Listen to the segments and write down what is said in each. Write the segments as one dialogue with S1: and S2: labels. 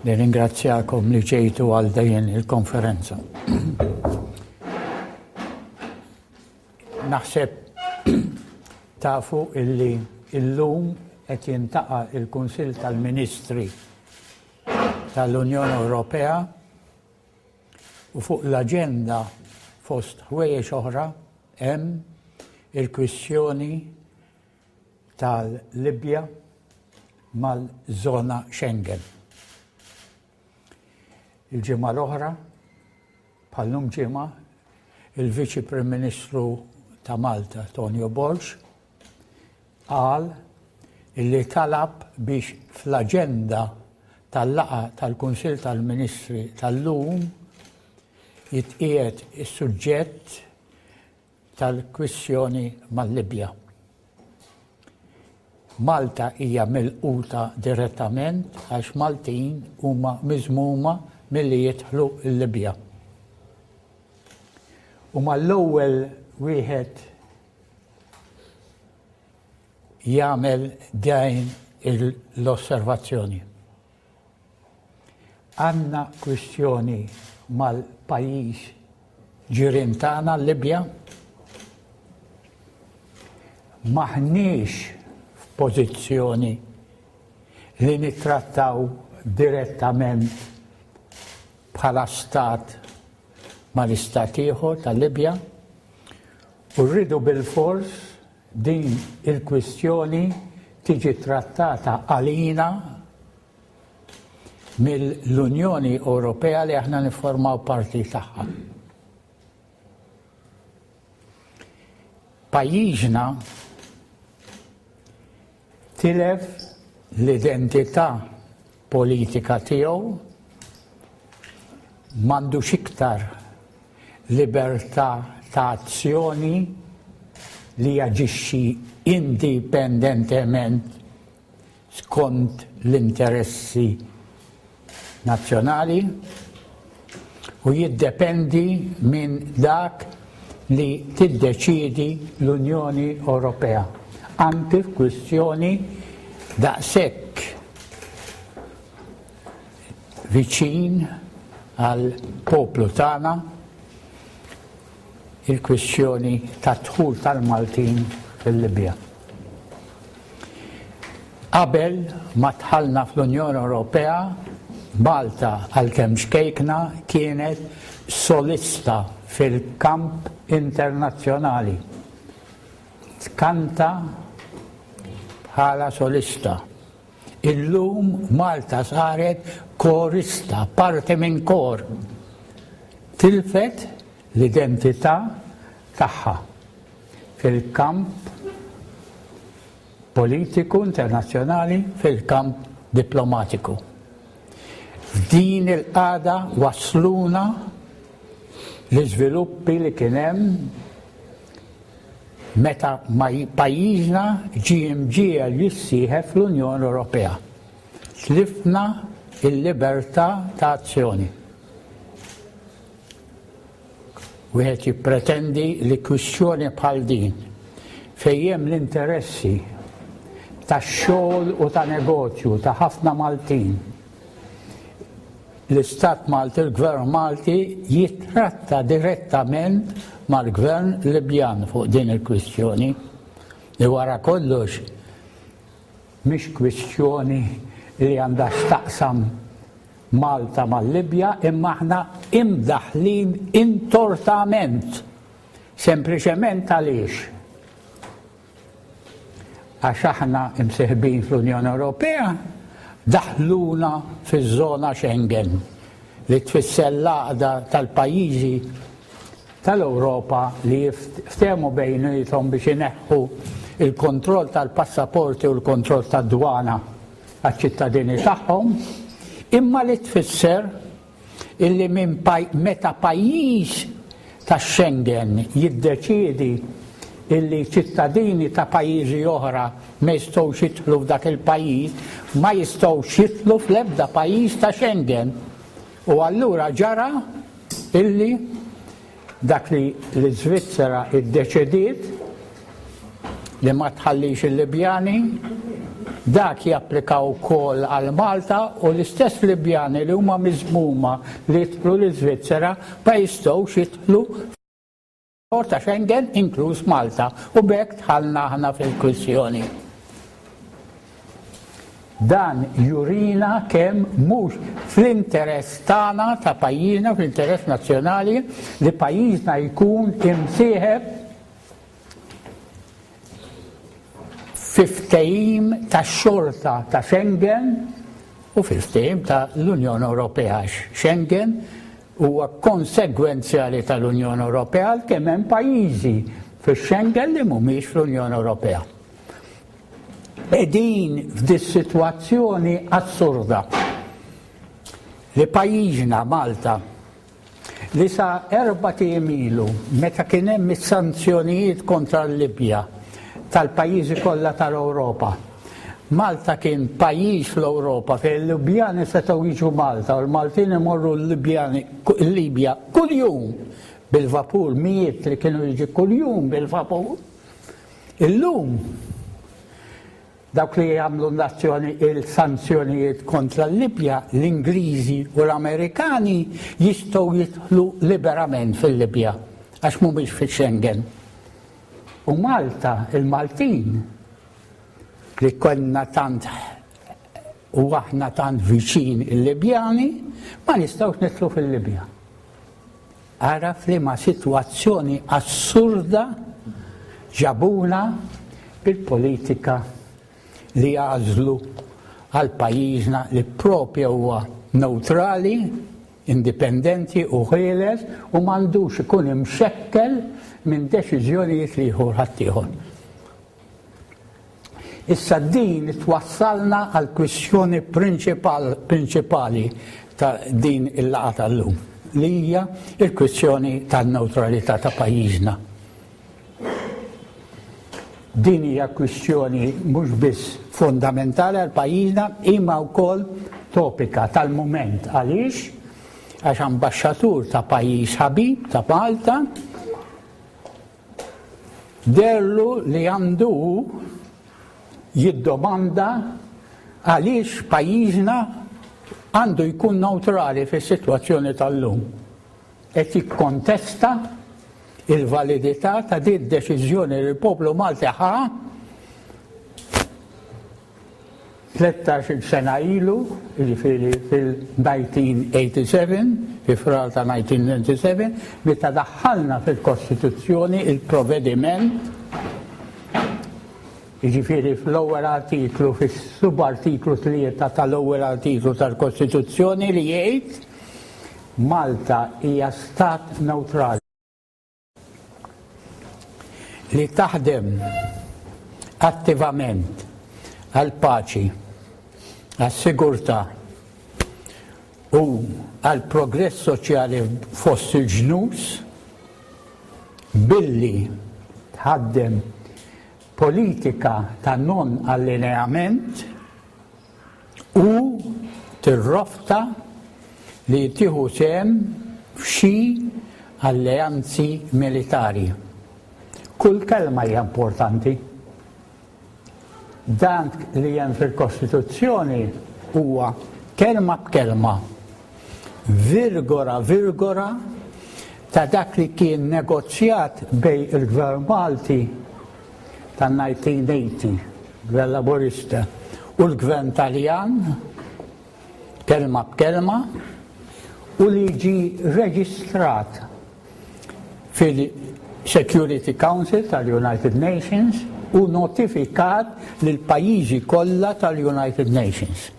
S1: Nirringrazzjakom li ġejtu għal dejjen il-konferenza. Naħseb tafu illi illum qed jintaqa' il-Kunsill tal-Ministri tal-Unjoni Ewropea u fuq l-aġenda fost ħwejjeġ oħra hemm il-kwistjoni tal-Libja mal-żona Schengen. Il-ġimgħa l-oħra, bħal-lum ġimgħa, il-Viċi Prim Ministru ta' Malta, Tonio Borg, qal illi talab biex fl-aġenda tal-laqa tal-Kunsil tal-Ministri tal-lum jitqiegħed is-suġġett tal-kwistjoni mal-Libja. Malta hija milquta direttament għax Maltin huma miżmuma milli jidħlu l-Libja. U mal-ewwel wieħed jagħmel dajn l-osservazzjoni. Għandna kwistjoni mal-pajjiż ġirien tagħna l-Libja. M'aħniex f'pożizzjoni li nittrattaw direttament bħala stat mal-istat ieħor tal-Libja u rridu bilfors Din il-kwistjoni tiġi trattata għalina mill-Unjoni Ewropea li aħna nifformaw parti tagħha. Pajjiżna Tilef l-identità politika tiegħu, m'għandux iktar libertà ta' azzjoni li jaġixxi indipendentement skont l-interessi nazzjonali u jiddependi minn dak li tiddeċiedi l-Unjoni Ewropea, anki f'kwistjoni daqshekk viċin għall-poplu tagħna il-kwistjoni tad-dħul tal-Maltin fil-Libja. Qabel ma dħalna fl-Unjoni Ewropea, Malta għalkemm xkejkna kienet solista fil-kamp internazzjonali. Tkanta bħala solista. Illum Malta saret korista, parti minn kor. Tilfet l-identità tagħha fil-kamp politiku internazzjonali, fil-kamp diplomatiku. F'din il-qagħda wassluna l-iżviluppi li kien hemm meta pajjiżna ġie mġiegħel jissieħeb fl-Unjoni Ewropea, tlifna l-libertà ta' azzjoni. Wieħed jippretendi li kwistjoni bħal din, fejn hemm l-interessi tax-xogħol u ta' negozju ta' ħafna Maltin, l-Istat Malti, l-Gvern Malti jitratta direttament mal-Gvern Libjan fuq din il-kwistjoni li wara kollox mhix kwistjoni li għandha x'taqsam Malta mal-Libja imma aħna imdaħlin intortament sempliċement għaliex Għax aħna imsieħbin fl-Unjoni Ewropea, daħluna fiż-żona Schengen li tfisser l-għaqda tal-pajjiżi tal-Ewropa li ftehmu bejniethom biex ineħħu il-kontroll tal-passaporti u l-kontroll tad-dwana għaċ-ċittadini tagħhom, imma li tfisser illi minn meta pajjiż tax-Schengen jiddeċiedi illi ċittadini ta' pajjiżi oħra ma jistgħux jidħlu f'dak il-pajjiż, ma jistgħux jidħlu fl-ebda pajjiż ta' Schengen. U allura ġara illi Dak li l-Iżvizzera iddeċediet li ma tħallix il-Libjani, dak japplika wkoll għal Malta u l-istess Libjani li huma miżmuma li jidħlu l-Iżvizzera ma jistgħux jidħlu fil-Port ta' Schengen inkluż Malta u b'hekk dħalna aħna fil-kwistjoni. Dan jurina kemm mhux fl-interess tagħna ta' pajjiżna, fl-interess nazzjonali, li pajjiżna jkun imsieħeb fi ftehim ta' xorta ta' Schengen u fi ftehim ta' l-Unjoni Ewropea. Schengen huwa konsegwenzjali tal-Unjoni Ewropea kemm hemm pajjiżi fix-Schengen li mhumiex fl-Unjoni Ewropea. Qegħdin f'dis-sitwazzjoni assurda li pajjiżna, Malta, li sa erbat ijiem ilu meta kien hemm is-sanzjonijiet kontra l-Libja tal-pajjiżi kollha tal-Ewropa, Malta kien pajjiż fl-Ewropa fejn il-Libjani setgħu jiġu Malta u l-Maltin imorru l-Libjani l-Libja kuljum bil-vapur, mijiet li kienu jiġi kuljum bil-vapur. Illum, dawk li jagħmlu n-nazzjoni il-sanzjonijiet kontra l-Libja, l-Ingliżi u l-Amerikani jistgħu jidħlu liberament fil-Libja għax mhumiex fix-Schengen. U Malta, il-Maltin, li konna tant u aħna tant viċin il-Libjani, ma nistgħux nidħlu fil-Libja. Ara f'liema sitwazzjoni assurda ġabuna bil-politika li għażlu għal pajjiżna li proprja huwa newtrali, indipendenti u ħieles u m'għandux ikun imxekkel minn deċiżjonijiet li jieħu ħaddieħor. Issa din twassalna għal kwistjoni prinċipali ta' din il-laqgħa tal-lum li hija l-kwistjoni tan-newtralità ta' pajjiżna. Din hija kwistjoni mhux biss fundamentali għal pajjiżna imma wkoll topika tal-mument għaliex għax ambaxxatur ta' pajjiż ħabib ta' Malta Deherlu li għandu hu jiddomanda għaliex pajjiżna għandu jkun newtrali fis-sitwazzjoni tal-lum. Qed jikkontesta il-validità ta' din id-deċiżjoni li l-poplu Malti ħa Tlettax-il sena ilu, jiġifieri fil-1987, fi Frar ta' 1987, meta daħħalna fil-Kostituzzjoni l-provediment, jiġifieri fl-ewwel artiklu, fis-subartiklu tlieta tal-ewwel artiklu tal-Kostituzzjoni li jgħid, Malta hija Stat newtrali. li taħdem attivament għal paċi, għal sigurtà u għal progress soċjali fost il-ġnus billi tħaddem politika ta' non allineament u tirrofta li tieħu sehem f'xi alleanzi militari. Kull kelma hija importanti. Dan li hemm fil-Kostituzzjoni huwa kelma b'kelma. virgora virgora ta' dak li kien negozjat bej il-Gvern Malti tan-1980, Gvern Laburista, u l-Gvern Taljan, kelma b'kelma, u li ġi reġistrat fil-Security Council tal-United Nations u notifikat lill pajjiżi kollha tal-United Nations.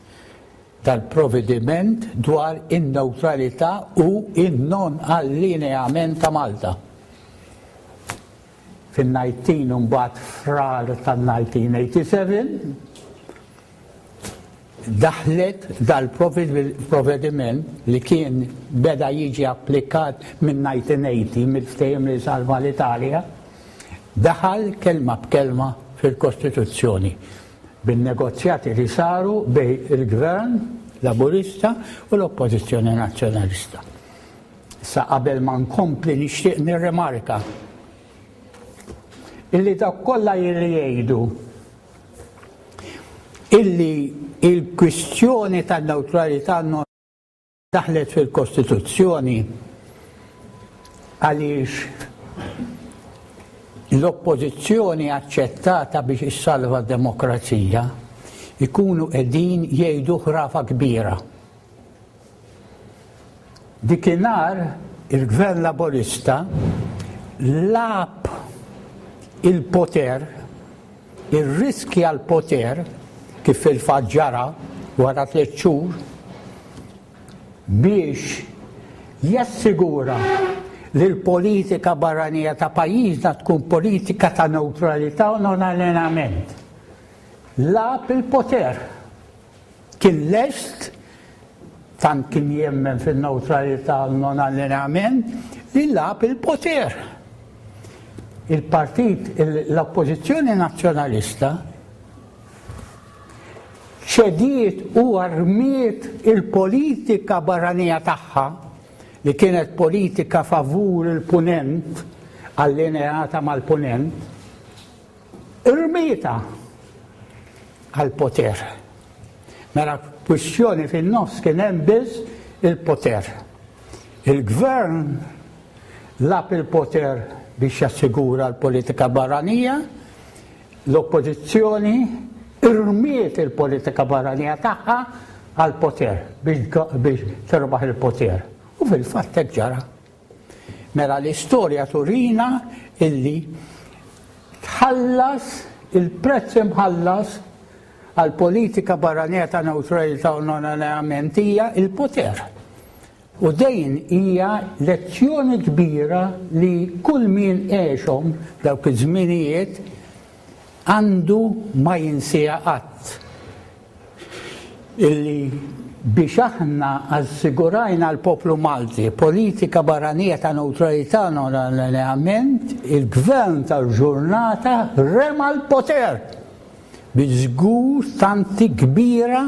S1: tal-Provvediment dwar in-Newtralità u n-Non-Allineament ta' Malta fin-19 u mbagħad Frar tan-1987 daħlet dal-provvediment li kien beda jiġi applikat min-1980 mill-ftehim li sar mal-Italja, daħal kelma b'kelma fil-Kostituzzjoni. bin-negozjati li saru bejn il-Gvern Laburista u l-Oppożizzjoni Nazzjonalista. Issa qabel ma nkompli nixtieq nirrimarka illi dawk kollha jirri jgħidu illi il-kwistjoni tan-newtralità Daħlet fil-Kostituzzjoni għaliex l-oppożizzjoni aċċettata biex issalva d-demokrazija ikunu qegħdin jgħidu ħrafa kbira. Dikinar il-Gvern Laburista lab il-poter Ir-riskji għall-poter, kif fil-fatt ġara wara tliet xhur, biex jassigura li l-politika barranija ta' pajjiżna tkun politika ta' newtralità u non-allenament. Lagħab il-poter Kien lest, tant kien jemmen fin-newtralità u n-non-allineament, li lagħab il-poter. Il-partit, l-Oppożizzjoni Nazzjonalista, ċediet u rmiet il-politika barranija tagħha, li kienet politika favur il-Punent, allineata mal-Punent, Rmietha għall-poter. Mela kwistjoni fin-nofs kien hemm biss il-poter. Il-gvern lab il-poter biex jassigura l-politika barranija, l-oppożizzjoni rmiet il-politika barranija tagħha għall-poter biex terbaħ il-poter. U fil-fatt hekk ġara. Mela l-istorja turina illi tħallas il-prezz imħallas għal politika barranija ta' neutralità u non-allenament hija il-poter. U dejn hija lezzjoni kbira li kull min għexhom dawk iż-żminijiet għandu ma jinsiha qatt. illi biex aħna assigurajna l-poplu Malti politika barranija ta' neutralità noranjament il-gvern tal-ġurnata rema l-poter bi żgur tanti kbira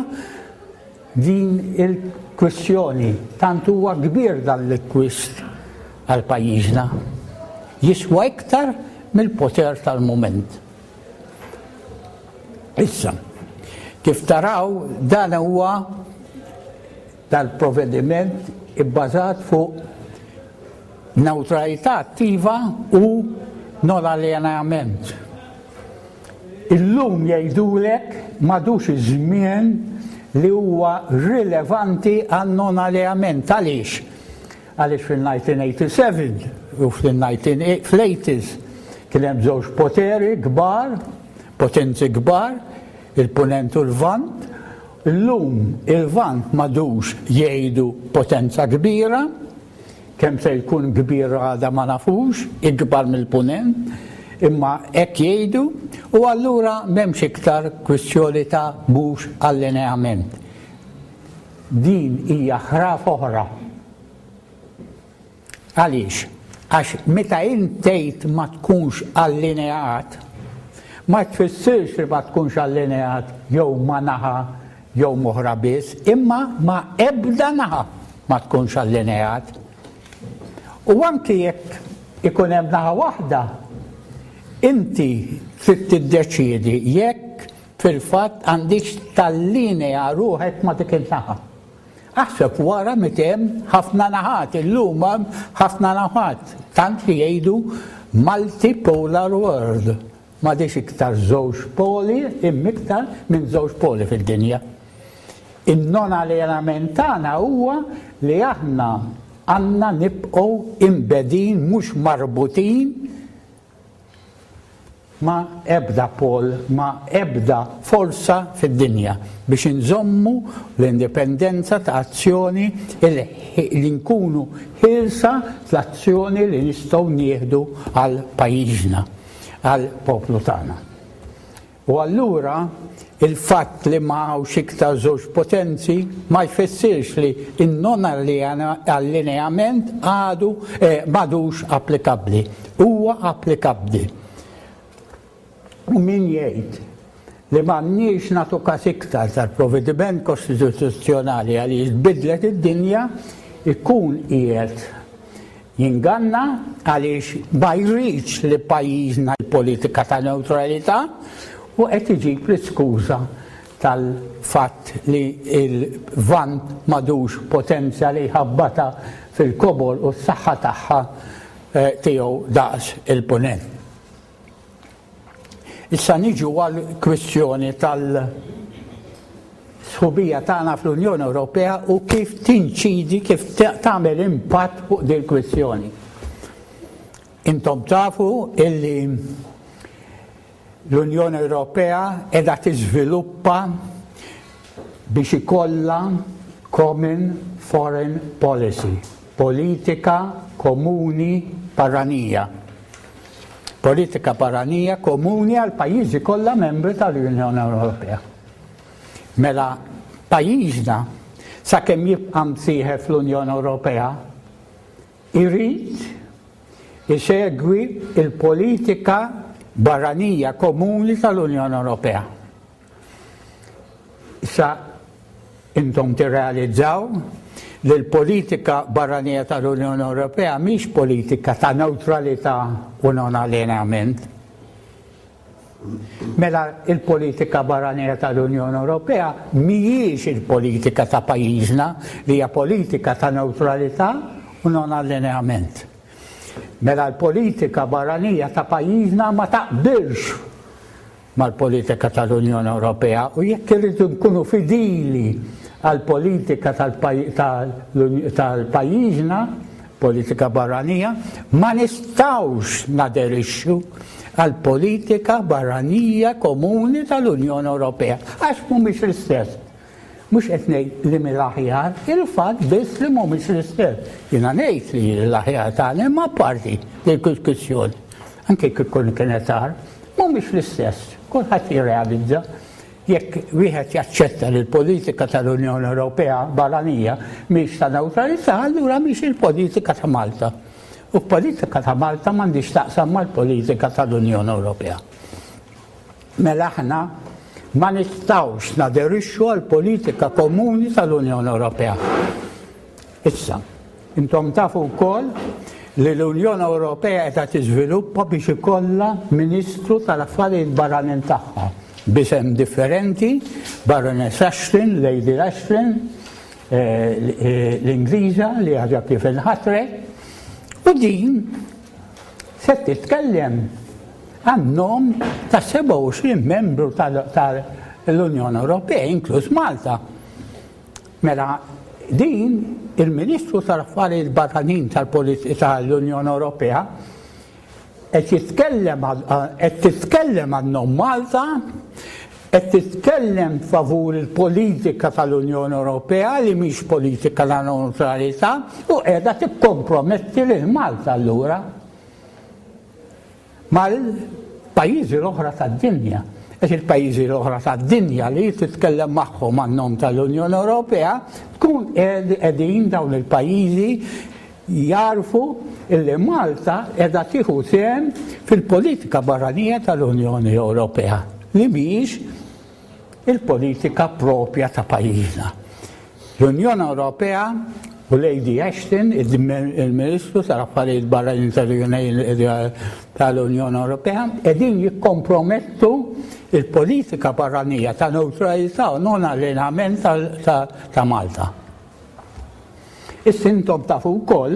S1: din il-kwistjoni tant huwa kbir dan l-ikkwist għal pajjiżna jiswa iktar mill-poter tal-mument. Issa, kif taraw dan huwa tal-provvediment ibbażat fuq neutralità attiva u non-aljenament. Illum jgħidulek m'għadux iż-żmien li huwa rilevanti għan-non-aljenament. Għaliex? Għaliex fin-1987 u fl-1980s kien hemm żewġ poteri kbar, potenzi kbar, il-Punent u l-Lvant. Illum il-Lvant m'għadux jgħidu potenza kbira, kemm se jkun kbir għada ma nafux, ikbar mill-Punent, imma hekk jgħidu u allura m'hemmx iktar kwistjoni ta' mhux allineament. Din hija ħraf oħra. Għaliex? Għax meta int tgħid ma tkunx allineat, ma tfissirx li ma tkunx allineat jew ma naħa jew moħra biss, imma ma ebda naħa ma tkunx allineat. U anki jekk ikun hemm naħa waħda, inti trid tiddeċiedi jekk Fil-fatt għandikx tallinea ruħek ma' dik in-naħa. Aħseb wara meta hemm ħafna naħat, illum hemm ħafna naħat, tant li jgħidu multipolar world. M'għadhiex iktar żewġ poli imma iktar minn żewġ poli fid-dinja. In-non aljenament tagħna huwa li aħna għandna nibqgħu imbegħdin mhux marbutin Ma ebda pol, ma ebda forza fid-dinja biex inżommu l-indipendenza ta' azzjoni li nkunu ħielsa fl-azzjoni li nistgħu nieħdu għal pajjiżna, għall-poplu tagħna. U allura, il-fatt li ma hawnx iktar żewġ potenzi ma jfissirx li n-non allineament għadu m'għadux applikabbli. Huwa applikabbli. U min jgħid li m'għandniex nagħtu każ iktar tal-provvediment kostituzzjonali għaliex tbiddlet id-dinja jkun qiegħed Jinganna għaliex ma jridx li pajjiżna l-politika ta' newtralità u qed iġib l-iskuża tal-fatt li l-Lvant m'għadux potenzja li jħabbatha fil-kobor u s-saħħa tagħha tiegħu daqs il-Punent. Issa niġu għal kwistjoni tal-sħubija tagħna fl-Unjoni Ewropea u kif tinċidi kif tagħmel impatt fuq din kwistjoni. Intom tafu illi l-Unjoni Ewropea qiegħda tiżviluppa biex ikollha common foreign policy, politika komuni barranija. politika barranija komuni għal pajjiżi kollha membri tal-Unjoni Ewropea. Mela pajjiżna sakemm jibqa' msieħeb fl-Unjoni Ewropea irid isegwi l-politika barranija komuni tal-Unjoni Ewropea. Sa intom tirrealizzaw li l-politika barranija tal-Unjoni Ewropea mhix politika ta' neutralità u non-allineament. Mela il-politika barranija tal-Unjoni Ewropea mhijiex il-politika ta' pajjiżna li hija politika ta' neutralità u non-allineament. Mela l-politika barranija ta' pajjiżna ma taqbilx mal-politika tal-Unjoni Ewropea u jekk irridu nkunu fidili għall-politika tal-pajjiżna, politika barranija, ma nistgħux naderixxu għall-politika barranija komuni tal-Unjoni Ewropea għax mhumiex l-istess. Mhux qed ngħid li mill-aħjar, il-fatt biss li mhumiex l-istess. Jiena ngħid li l-aħjar tagħna imma apparti dil-kwistjoni, anke jekk ikun kienet agħar, mhumiex l-istess. Kulħadd jirrealizza jekk wieħed jaċċetta li l-politika tal-Unjoni Ewropea barranija mhix ta' newtralità, allura mhix il-politika ta' Malta. U politika ta' Malta m'għandhiex taqsam mal-politika tal-Unjoni Ewropea. Mela aħna ma nistgħux naderixxu għal politika komuni tal-Unjoni Ewropea. Issa, intom tafu wkoll li l-Unjoni Ewropea qed tiżviluppa biex ikollha Ministru tal-Affarijiet Barranin tagħha bisem differenti, Baroness Ashton, Lady Ashton, eh, eh, l-Ingliża li ħaġa kif inħatret, u din se titkellem għan-nom ta' 27 membru tal-Unjoni Ewropea, inkluż Malta. Mela din il-Ministru tal-Affarijiet Barranin tal-Politika tal-Unjoni Ewropea qed jitkellem qed titkellem għan-nom Malta, qed titkellem favur il-politika tal-Unjoni Ewropea li mhix politika ta' neutralità u qiegħda tikkomprometti lil Malta allura. mal-pajjiżi l-oħra tad-dinja, għax il-pajjiżi l-oħra tad-dinja li titkellem magħhom għan-nom tal-Unjoni Ewropea tkun qegħdin dawn il-pajjiżi jagħrfu li Malta qiegħda tieħu sehem fil-politika barranija tal-Unjoni Ewropea li mhijiex il-politika proprja ta' pajjiżna. L-Unjoni Ewropea u Lady Ashton, il-Ministru tal-Affarijiet Barranin tal-Unjoni Ewropea, qegħdin jikkompromettu il-politika barranija ta' neutralità u non allenament ta' Malta. Is-sintom ta' fuq ukoll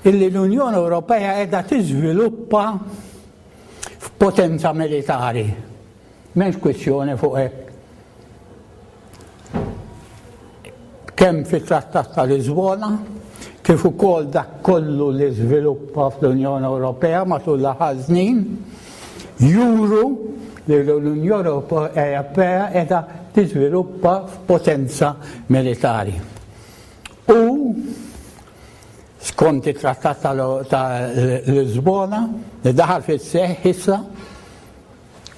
S1: illi l-Unjoni Ewropea qiegħda tiżviluppa f'potenza militari. M'hemmx kwistjoni fuq hekk. Kemm fit-Trattat ta' Lisbona, kif ukoll dak kollu li żviluppa fl-Unjoni Ewropea matul l-aħħar snin, juru li l-Unjoni Ewropea qiegħda tiżviluppa f'potenza militari. U skont it-Trattat ta' Lisbona li daħal fis-seħħ issa,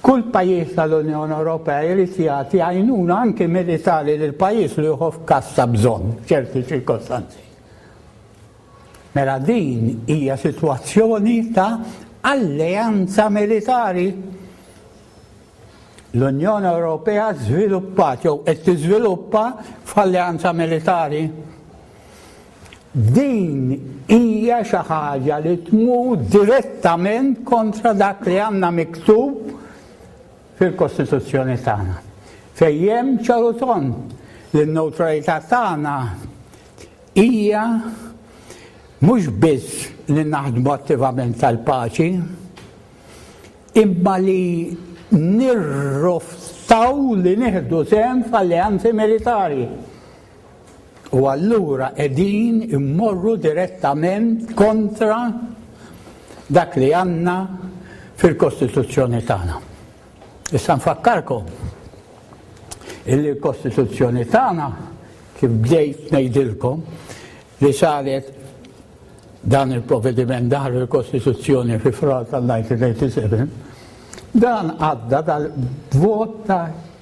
S1: Kull pajjiż tal-Unjoni Ewropea jrid jagħti għajnuna anki militari lill-pajjiż li jieħu f'każ ta' bżonn f'ċerti ċirkostanzi. Mela din hija sitwazzjoni ta' alleanza militari. L-Unjoni Ewropea żviluppat jew qed tiżviluppa f'alleanza militari. Din hija xi ħaġa li tmur direttament kontra dak li għandna miktub fil-Kostituzzjoni tagħna. Fejn hemm ċaru tond li n-newtralità tagħna hija mhux biss li naħdmu attivament tal-paċi, imma li nirroftaw li nieħdu sehem f'alleanzi militari. u allura qegħdin immorru direttament kontra dak li għandna fil-Kostituzzjoni tagħna. Issa nfakkarkom illi l-Kostituzzjoni tagħna kif bdejt ngħidilkom li saret dan il-provvediment daħal il-Kostituzzjoni fi frar tal-1997, dan għadda dal-vot ta'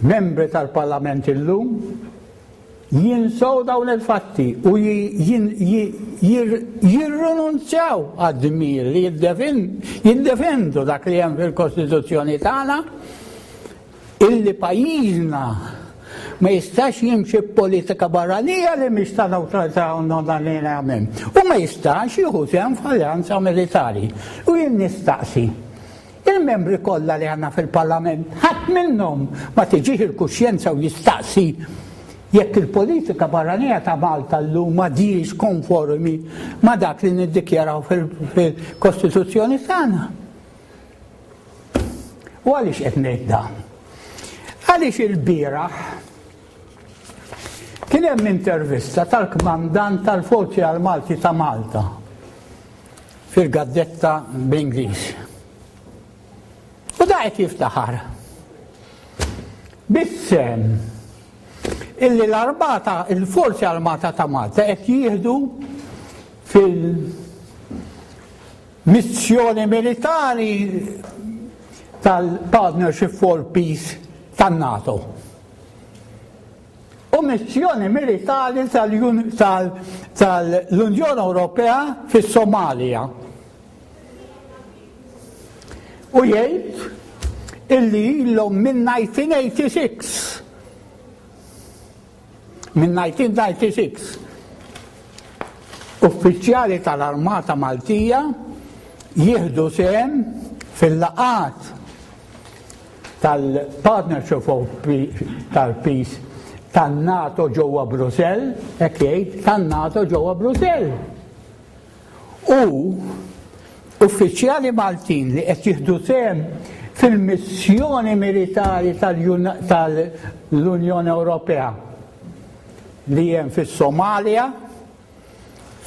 S1: Membri tal-Parlament illum jinsew dawn il-fatti u jirrinunzjaw għad-dmir li jiddefendu dak li hemm fil-Kostituzzjoni tagħna illi pajjiżna ma jistax jimxi b'politika barranija li mhix ta' newtralità u nonallineament u ma jistax jieħu sehem f'alleanza militari. U jien nistaqsi Il-membri kollha li għandna fil-Parlament, ħadd minnhom ma tiġih il-kuxjenza u jistaqsi jekk il-politika barranija ta' Malta llum m'għadhiex konformi ma' dak li niddikjaraw fil-Kostituzzjoni tagħna. U għaliex qed ngħid dan? Għaliex il-bieraħ kien hemm intervista tal-kmandant tal-Forzi għal Malti ta' Malta. fil-gazzetta bl-Ingliż. U da qed jiftaħar. Bissem illi l-armata, il-forzi armata ta' Malta qed jieħdu fil-missjoni militari tal-Partnership for Peace tan-NATO. u missjoni militari tal-Unjoni Ewropea fis-Somalja. U jgħid illi ilhom minn 1986 minn 1996 uffiċjali tal-Armata Maltija jieħdu sehem fil-laqgħat tal-Partnership for Peace tan-NATO ġewwa Brussell, hekk jgħid, tan-NATO ġewwa Brussell. U uffiċjali Maltin li qed jieħdu sehem fil-missjoni militari tal-Unjoni Ewropea li hemm fis-Somalia,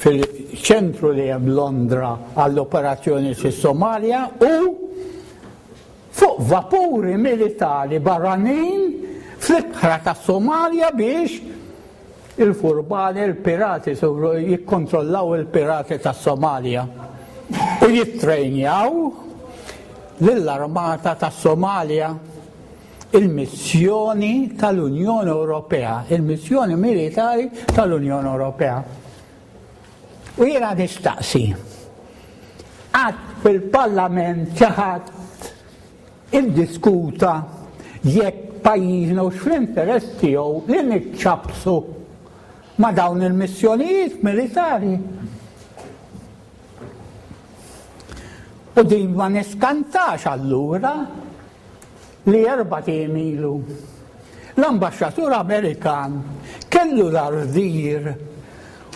S1: fil-ċentru li hemm Londra għall-operazzjoni fis-Somalia u fuq vapuri militari barranin fl-ibħra tas-Somalja biex il-furbani, il-pirati, jikkontrollaw il-pirati tas-Somalja u jittrejnjaw lill-armata tas-Somalja. Il-missjoni tal-Unjoni Ewropea, il-missjoni militari tal-Unjoni Ewropea. U jiena nistaqsi, qatt fil-Parlament xi ħadd iddiskuta jekk pajjiżna u x'fl-interess tiegħu li niċċappsu ma' dawn il-missjonijiet militari. U din ma niskantax allura li erbat ijiem ilu, l-Ambaxxatur Amerikan kellu l-ardir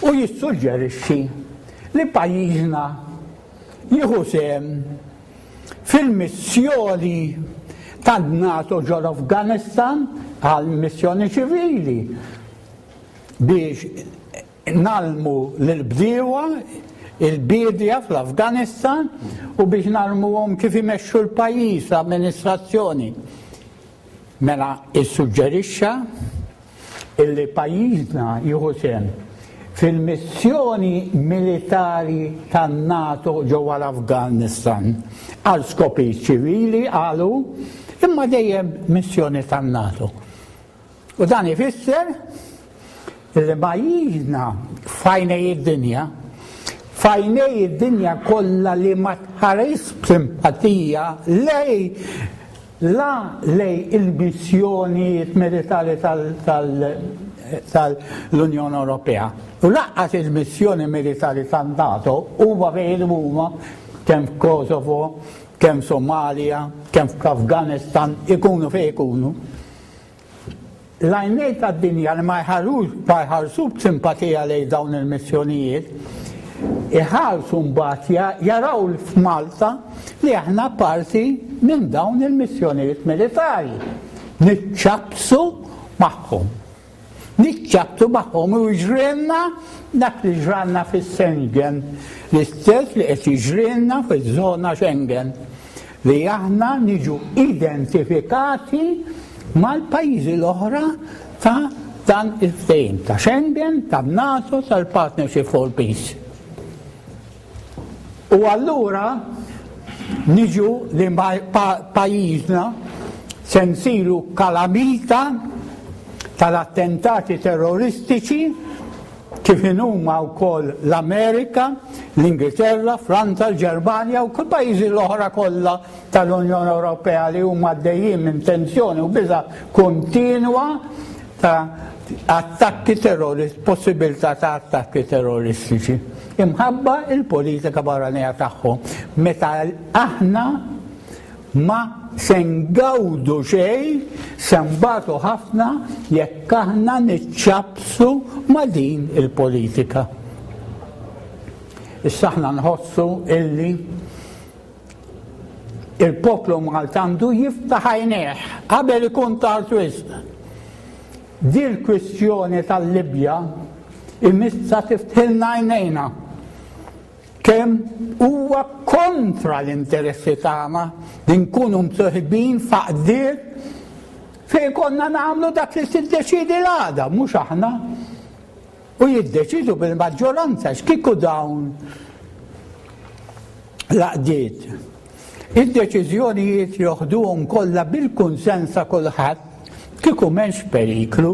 S1: u jissuġġerixxi li pajjiżna jieħu sehem fil-missjoni tan-NATO ġo l-Afganistan għal missjoni ċivili biex nalmu l-bdiewa il-bidja fl-Afganistan u biex nalmuhom kif imexxu l-pajjiż l-amministrazzjoni. Mela issuġġerixxa illi pajjiżna jieħu sehem fil-missjoni militari tan-NATO ġewwa l-Afganistan għal skopijiet ċivili qalu imma dejjem missjoni tan-NATO. U dan ifisser li ma jiġna fajnej id-dinja, fajnej id-dinja kollha li ma tħares b'simpatija lej la lej il-missjonijiet militari tal-Unjoni Ewropea. U laqqas il-missjoni militari tan-NATO huma fejn huma kemm f'Kosovo, kemm Somalia, kemm f'Afganistan, ikunu fejn ikunu. L-għajnejn tad-dinja li ma jħarrux ma jħarsux b'simpatija lejn dawn il-missjonijiet, iħarsu mbagħad jaraw f'Malta li aħna parti minn dawn il-missjonijiet militari. Niċċappsu magħhom. Niċċappsu magħhom u jġrilna dak li ġralna fis-Schengen, l-istess li qed jiġrilna fiż-żona Schengen. li aħna niġu identifikati mal-pajjiżi l-oħra ta' dan il-ftehim ta' Schengen, tan-NATO, tal-Partnership for Peace. U allura niġu li pajjiżna se nsiru kalamita tal-attentati terroristiċi kif inhuma wkoll l-Amerika, l-Ingilterra, Franza, l-Ġermanja u l-pajjiżi l-oħra kollha tal-Unjoni Ewropea li huma għaddejjin minn tensjoni u biża' kontinwa ta' attakki terroristi, possibilità ta' attakki terroristiċi. Imħabba l-politika barranija tagħhom. Meta aħna Ma se ngawdu xejn, se nbatu ħafna jekk aħna niċċappsu ma' din il-politika. Issa aħna nħossu illi il-poplu Malta għandu jiftaħ għajneħ qabel ikun tard wisq. Dil kwistjoni tal-Libja imissa tiftilna għajnejna. kemm huwa kontra l-interessi tagħna li nkunu msieħbin f'għaqdiet fejn konna nagħmlu dak li tiddeċidi l-għada, mhux aħna. U jiddeċidu bil-maġġoranza x'kieku dawn l-għaqdiet Id-deċiżjonijiet joħduhom kollha bil-kunsens ta' kulħadd kieku m'hemmx periklu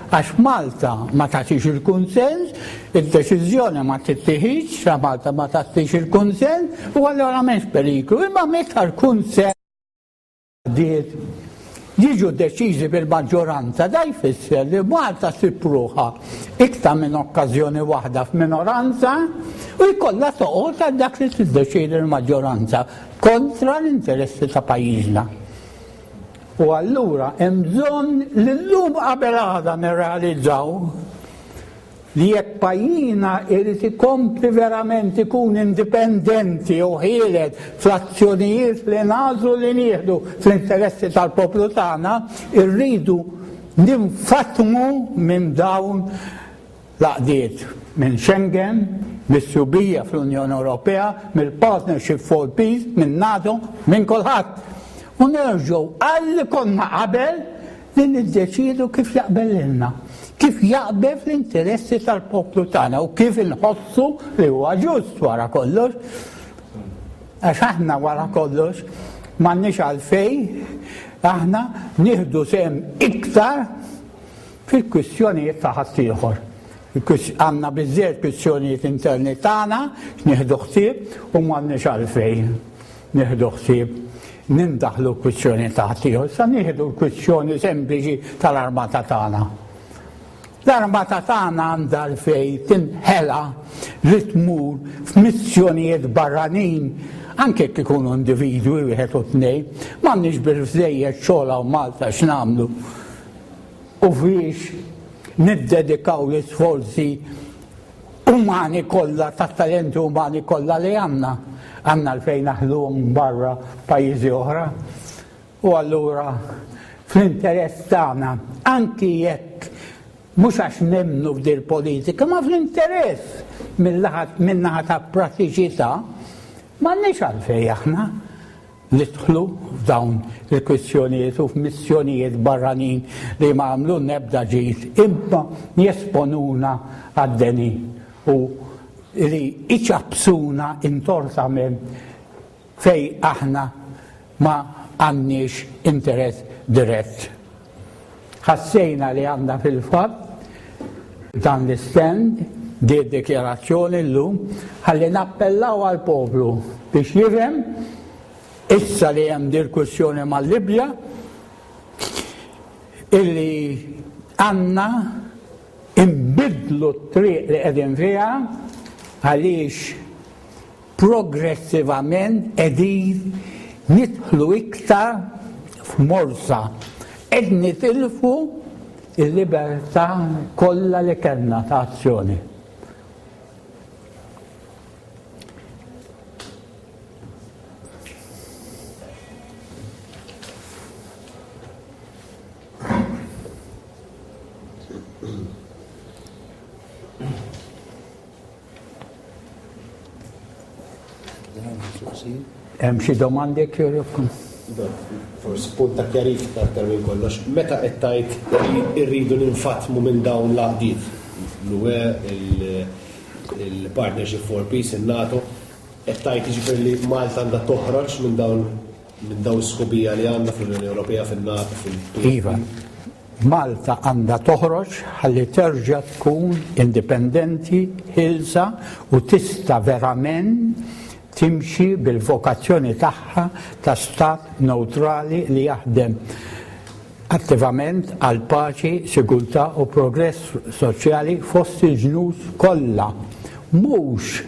S1: għax Malta ma tagħtix il-kunsens, id-deċiżjoni ma tittieħidx sa Malta ma tagħtix il-kunsens u allura m'hemmx periklu. Imma meta l-kunsens. diet jiġu deċiżi bil-maġġoranza da jfisser li Malta sipruħa iktar minn okkażjoni waħda f'minoranza u jkollha toqgħod għal dak li tiddeċiedi l-maġġoranza kontra l-interessi ta' pajjiżna. U allura hemm bżonn li llum qabel għada nirrealizzaw li jekk pajjiżna jrid ikompli verament ikun indipendenti u ħieles fl-azzjonijiet li nagħżlu li nieħdu fl-interessi tal-poplu tagħna, irridu ninfatmu minn dawn l-għaqdiet, minn Schengen, mis-sħubija fl-Unjoni Ewropea, mill-Partnership for Peace, min-NATO, minn kulħadd, u nerġgħu għal li konna qabel li niddeċiedu kif jaqbel lilna, kif jaqbel fl-interessi tal-poplu tagħna u kif inħossu li huwa ġust wara kollox. Għax aħna wara kollox m'għandniex għalfej aħna nieħdu sem iktar fil-kwistjonijiet ta' ħaddieħor. Għanna biżżejjed kwistjonijiet interni tagħna, nieħdu ħsieb u m'għandniex għalfejn. Nieħdu ħsieb li ndaħħlu l-kwistjoni ta' ħaddieħor, issa nieħdu l-kwistjoni sempliċi tal-armata tagħna. L-armata tagħna għandha l-fej tinħela li tmur f'missjonijiet barranin anke jekk ikunu individwi wieħed u tnejn, m'għandniex bil-fżejjed xogħla u Malta x'namlu. U fiex niddedikaw l-isforzi umani kollha, tat-talenti umani kollha li għandna, għandna għalfejn naħluhom barra f'pajjiżi oħra. U allura fl-interess tagħna, anki jekk mhux għax nemnu f'dil politika, ma fl-interess min-naħa ta' prattiċità, m'għandniex għalfejn aħna nidħlu f'dawn il-kwistjonijiet u f'missjonijiet barranin li ma għamlu l-ebda ġid imma jesponuna għad-deni u li jċappsuna intortament fejn aħna ma għandniex interess dirett. Ħassejna li għandna fil-fatt f'dan l-istand din id-dikjarazzjoni llum ħalli nappellaw għall-poplu biex jifhem issa li hemm din il-kwistjoni mal-Libja illi għandna inbiddlu t-triq li qegħdin fiha għaliex Progressivament qegħdin nidħlu iktar f'morsa qed nitilfu l-libertà kollha li kellna ta' azzjoni. Hemm xi domandi jekk jogħġobkom? Forsi punt ta' kjarifika aktar minn kollox. Meta qed tgħid irridu ninfatmu minn dawn l-għaqdiet l-UE, il-Partnership for Peace, il-NATO, qed tgħid jiġifieri li Malta għandha toħroġ minn dawn minn dawn is-sħubija li għandna fl-Unjoni Ewropea fin-NATO fil-Iva. Malta għandha toħroġ ħalli terġa' tkun indipendenti, ħielsa u tista' verament timxi bil-vokazzjoni tagħha ta' stat newtrali li jaħdem attivament għall-paċi, sigurtà u progress soċjali fost il-ġnus kollha, mhux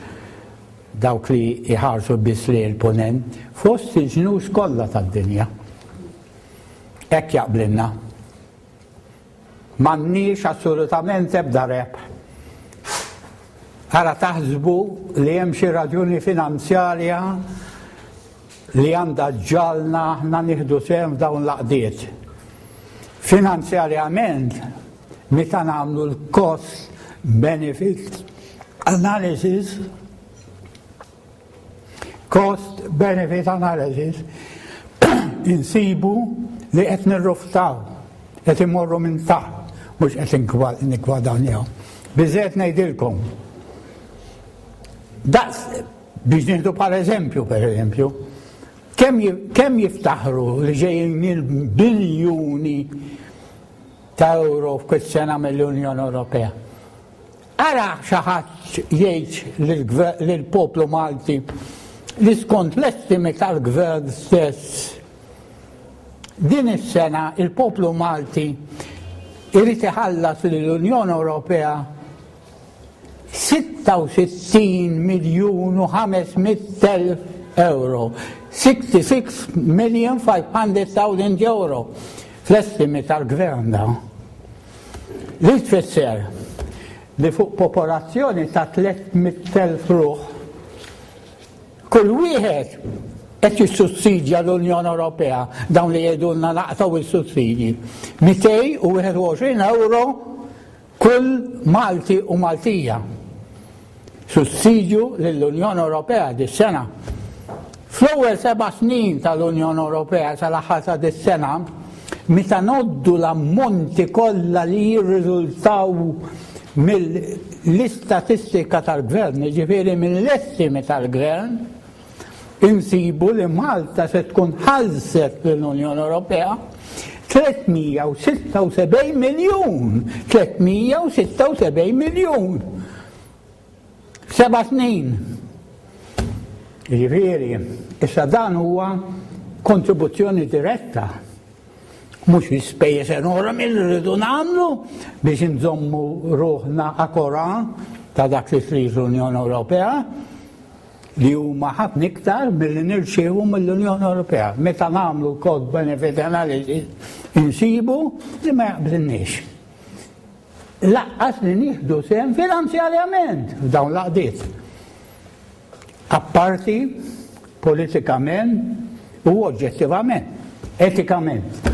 S1: dawk li jħarsu biss lejn il-Punent, fost il-ġnus kollha tad-dinja. hekk jaqblilna. M'għandniex assolutament ebda rep. Ara taħsbu li hemm xi raġuni finanzjarja li għandha ġalna aħna nieħdu sehem f'dawn l-aqdiet. Finanzjarjament, meta nagħmlu l-cost benefit analysis, Cost benefit analysis insibu li qed nirruftaw, qed imorru minn taħt, mhux qed niggwadanjaw. Biżgħet ngħidilkom. Daqs biex nieħdu bħal eżempju, per eżempju, kemm jiftaħru li ġejjin il-biljuni ta' euro f'kull sena mill-Unjoni Ewropea? Ara xi ħadd jgħid lill-poplu Malti li skont l-estimi tal-Gvern stess, din is-sena l-poplu Malti jrid iħallas lill-Unjoni Ewropea 66 miljun u 500 elf ewro, 66 million 500 thousand euro, fl-estimi tal-Gvern dawn. Li tfisser li fuq popolazzjoni ta' 300,000 ruħ, kull wieħed qed jissussidja l-Unjoni Ewropea dawn li jgħidulna naqtgħu s-sussidji. 221 ewro kull Malti u Maltija. Sussidju lill-Unjoni Ewropea dis-sena. Fl-ewwel seba' snin tal-Unjoni Ewropea sal-aħħar ta' dis-sena, meta ngħoddu l-ammonti kollha li jirriżultaw mill-istatistika tal-Gvern, jiġifieri mill-estimi tal-Gvern, insibu li Malta se tkun ħallset lill-Unjoni Ewropea 376 miljun, 376 miljun. Seba' snin. Jiġifieri, issa dan huwa kontribuzzjoni diretta mhux l-ispejjeż enormi li rridu nagħmlu biex inżommu ruħna akora ta' dak li trid l-Unjoni Ewropea. li huma ħafna iktar milli nirċievu mill-Unjoni Ewropea. Meta nagħmlu l-cost benefit analysis insibu li ma jaqblinniex. Laqqas li nieħdu sehem finanzjarjament f'dawn l-qdiet. Apparti politikament u oġġettivament, etikament.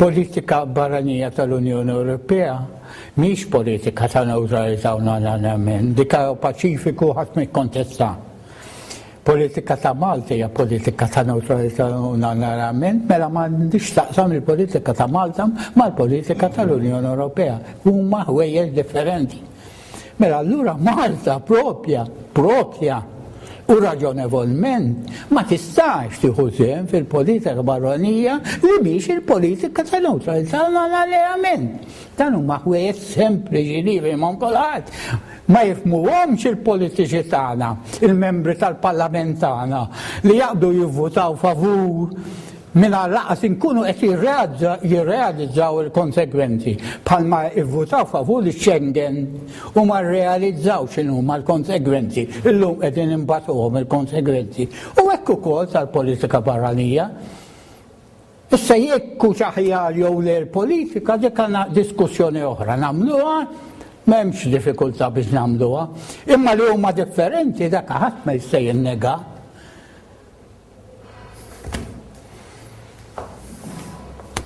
S1: Politika barranija tal-Unjoni Ewropea mhix politika ta' newtralità u non-alignment, dik hawn paċifiku ħadd ma jikkontestha. Politika ta' Malta hija politika ta' newtralità u non-alignment mela ma għandhiex x'taqsam il-politika ta' Malta mal-politika tal-Unjoni Ewropea. Huma ħwejjeġ differenti. Mela allura Malta propja, propja u raġonevolment ma tistax tieħu sehem fil-politika barranija li biex il-politika ta' neutralità l-alleament. Dan huma ħwejjeġ sempliċi li jrimhom kulħadd. Ma jifmuhomx il-politiċi tagħna, il-membri tal-parlament tagħna li jaqdu jivvutaw favur Mingħajr lanqas inkunu qed jirrealizzaw il-konsegwenzi, bħalma ivvutaw favur ix-Schengen u ma rrealizzaw x'inhuma l-konsegwenzi, illum qegħdin inbatuhom il-konsegwenzi. U hekk ukoll tal-politika barranija. Issa jekk hux aħjar jew le l-politika dik għandna diskussjoni oħra nagħmluha m'hemmx diffikultà biex nagħmluha. Imma li huma differenti dak ħadd ma jista' jinnega.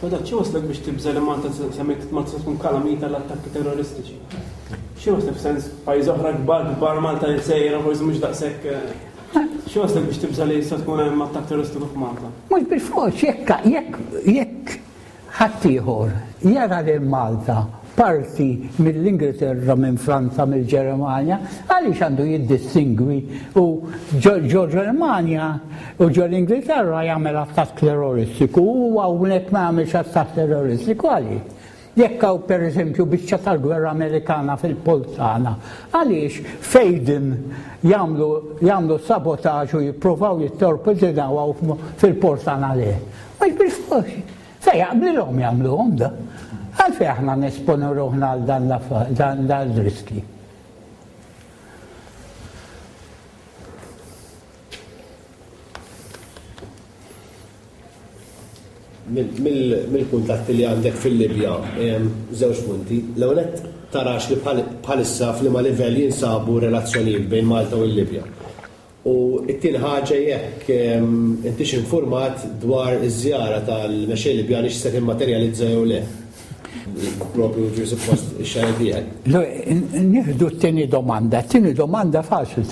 S1: U dak xi waslek biex tibża' li Malta semmet ma tista' tkun kalamita l-attakki terroristiċi. Xi waslek sens pajjiż oħra kbar kbar Malta li sejra forsi mhux daqshekk Xi waslek biex tibża' li jista' tkun hemm attakk terroristiku f'Malta? Mhux bil-fors, jekk jekk jekk Ħaddieħor jara lil Malta parti mill-Ingilterra, minn Franza, mill-Ġermanja, għaliex għandu jiddistingwi u ġo Ġermanja u ġo l-Ingilterra jagħmel attakk terroristiku u hawnhekk ma jagħmilx attakk terroristiku għaliex? Jekk hawn pereżempju biċċa tal-gwerra Amerikana fil-polt tagħna, għaliex fejdim jagħmlu sabotaġġ u jippruvaw jittorpedinawha fil-port tagħna le? Mhux bilfors. Se jaqblilhom jagħmluhom da. Għalfejn aħna nesponu ruħna għal dan l-affar, dan l-riski? Mill-kuntatti li għandek fil-Libja, żewġ punti. L-ewwel qed tarax li bħalissa f'liema livell jinsabu relazzjonijiet bejn Malta u l-Libja. U t-tieni ħaġa jekk intix infurmat dwar iż-żjara tal-Mexxej Libjani x'se timmaterjalizza jew le. Propju ġie suppost ix-xahar tiegħek. Le, nieħdu t-tieni domanda. T-tieni domanda faċli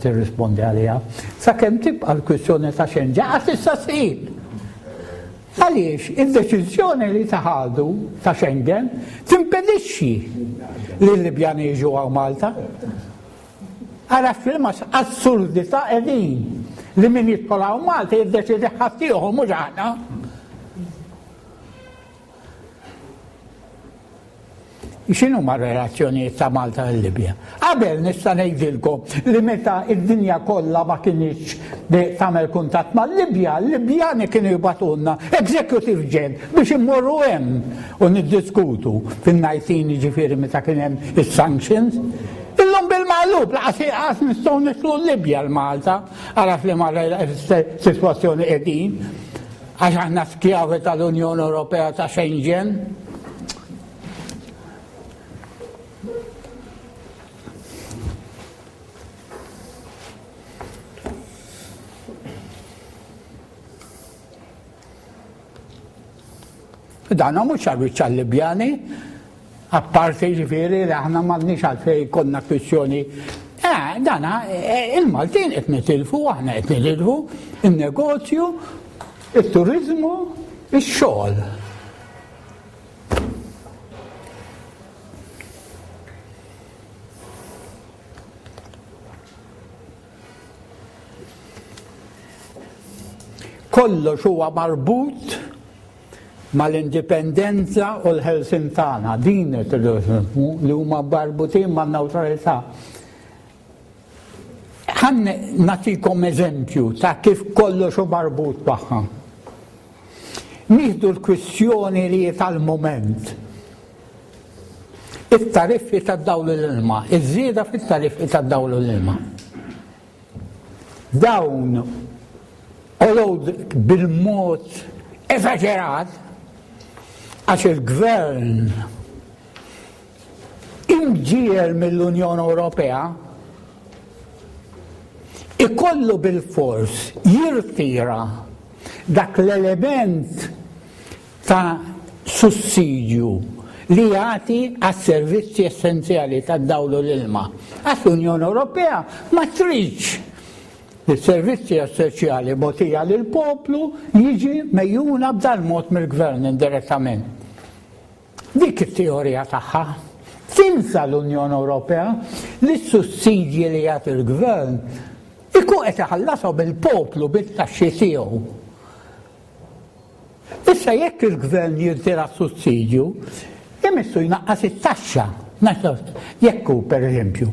S1: tirrispondi għaliha. Sakemm tibqa' l-kwistjoni ta' xejn ġejja tista' ssir. Għaliex id-deċiżjoni li taħadu ta' Schengen timpedixxi li l-Libjani jiġu hawn Malta. Ara x'liema assurdità qegħdin li min jidħol hawn Malta jiddeċiedi ħaddieħor mhux aħna. X'inhu ma' relazzjonijiet ta' Malta u Libja? Qabel nista' ngħidilkom li meta id-dinja kollha ma kienx tagħmel kuntatt mal-Libja, l-Libjani kienu jibatulna executive ġen biex immorru hemm u niddiskutu fin-najtin jiġifieri meta kien hemm is-sanctions. Illum bil-maqlub laqas iqas nistgħu nitlu l-Libja l-Malta, ara f'liema sitwazzjoni qegħdin, għax aħna skjavi tal-Unjoni Ewropea ta' Schengen. Dan mhux għal-Libjani, Apparti ġifieri li aħna m'għandniex għalfejn konna kwistjoni Eh, dana, eh, il-Maltin qed nitilfu, aħna qed nitilfu, il-negozju, il-turizmu, il-xogħol. kollox huwa marbut mal-indipendenza u l-ħelsien tagħna. Din qed irriżmu li huma barbutin man-newtralità. Ħan nagħtikom eżempju ta' kif kollox u marbut magħha. Nieħdu l-kwistjoni li tal-mument it-tariffi tad-dawl l-ilma, iż-żieda fit-tariffi tad-dawl l-ilma. Dawn olow bil-mod esaġerat għax il-Gvern imġiel mill-Unjoni Ewropea ikollu bil-fors jirtira dak l-element ta' sussidju li jagħti għas-servizzi essenzjali tad-dawl u l-ilma, għax l-Unjoni Ewropea ma tridx li s-servizzi essenzjali mogħtija lill-poplu jiġi megħjuna b'dal-mod mill-gvern indirettament. Dik it-teorija tagħha. Tinsa l-Unjoni Ewropea li s-sussidji li jagħti l-gvern ikun qed iħallashom il-poplu bit-taxxi tiegħu. Issa jekk il-Gvern jirtira s-sussidju, imissu jnaqqas it-taxxa. Jekk hu, pereżempju,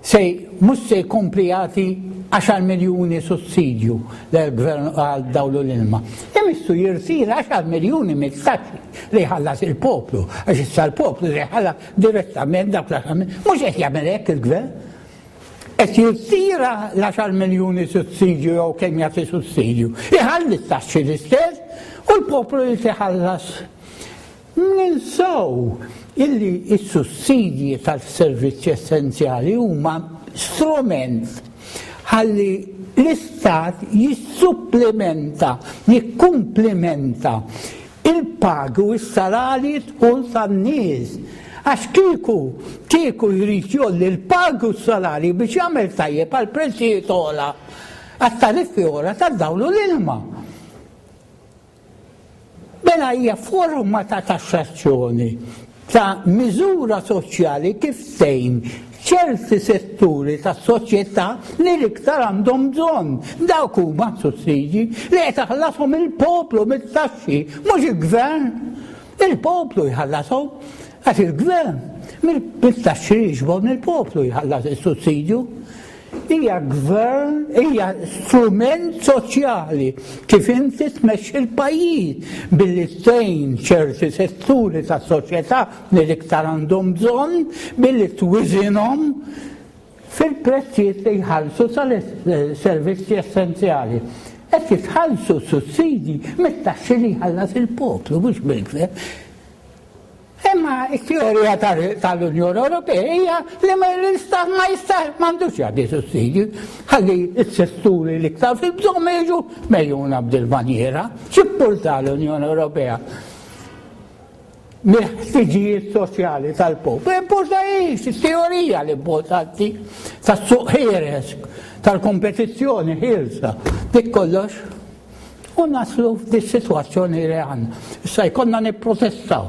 S1: se mhux se jkompli jagħti 10 miljuni sussidju lill-Gvern għad-dawl u l-ilma, imissu jirtira 10 miljuni mit-taxxi li jħallas il-poplu, għax issa l-poplu se jħallas direttament dawk l-10 miljuni. Mhux qed jagħmel hekk il-Gvern? Qed jirtira l-għaxar miljuni sussidju jew kemm jagħti sussidju. Iħalli t-taxxi l-istess u l-poplu jrid iħallas. Ninsew illi s-sussidji tal-servizzi essenzjali huma strument ħalli l-Istat jissupplimenta, jikkumplimenta il-pagi u s-salarji tkun tan-nies. Għax kieku, kieku jrid jgħolli l-pagi u s-salarji biex jagħmel tajjeb għal prezzijiet ogħla, għat-tariffi ogħla tad-dawl u l-ilma. Mela hija forma ta' taxxazzjoni. ta' miżura soċjali kif tgħin ċerti setturi tas-soċjetà li l-iktar għandhom bżonn. Dawk huma s-sussidji li qed iħallashom il-poplu mit-taxxi, mhux il-gvern. Il-poplu jħallashom għax il-gvern mit-taxxi jiġbor mill-poplu jħallas is-sussidju. Hija gvern, hija strument soċjali kif inti tmexxi l-pajjiż billi tgħin ċerti setturi tas-soċjetà li l-iktar għandhom bżonn billi twiżinhom fil-prezzijiet li jħallsu tal-servizzi essenzjali. Qed jitħallsu s-sussidji mit-taxxi li jħallas il-poplu mhux mill-gvern. Imma t-teorija tal-Unjoni Ewropea hija li l-istat ma jistax m'għandux jagħti sussidju ħalli s-setturi li iktar fil-bżonn jiġu mejjuna b'dil manjera. X'importa l-Unjoni Ewropea? mill-ħtiġijiet soċjali tal-poplu. Importa jiex, teorija l-importanti tas-suq ħieres, tal-kompetizzjoni ħirsa, dik kollox. U naslu f'di situazzjoni li għan. Issa jkonna nipprotestaw.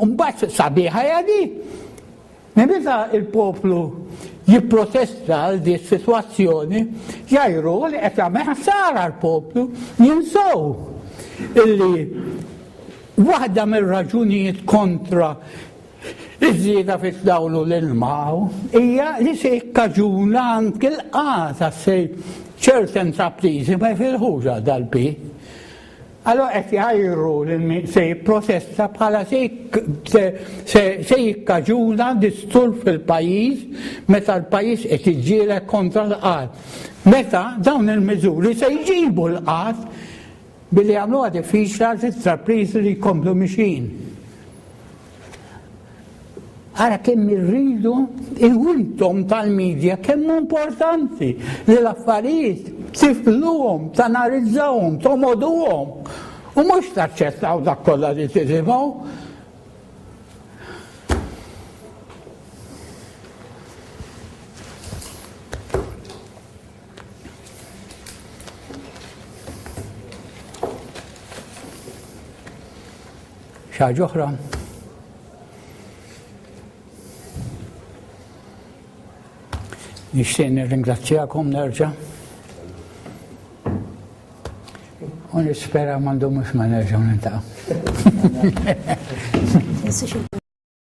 S1: Umbat eh, sabiħa jadi. Meta il-poplu jipprotesta għal di situazzjoni, jajru li qed jagħmel ħsara l-poplu, jinsaw illi waħda mir-raġunijiet kontra Iż-żieda fid-dawl u l-ilma hija li se jikkaġuna anki l-qagħda se ċerti intrapriżi ma jifilħux għal dal-pi. Allora qed jgħajru lil min se jipprotesta bħala se jikkaġuna disturb fil-pajjiż meta l-pajjiż qed jiġġieled kontra l-qgħad. Meta dawn il-miżuri se jġibu l-qgħad Billi jagħmluha diffiċli għal l-intrapriżi li jkomplu mixin. Ara kemm irridu il-wintom tal-medja kemm importanti li l-affarijiet tifluhom, tanalizzawhom, tomoduhom u mhux taċċettaw dak kollha li tisimgħu. Xaġa oħra. Nixtieq nirringrazzjakom nerġa'. U nispera m'għandhom mhux ma nerġgħu nintaqgħu.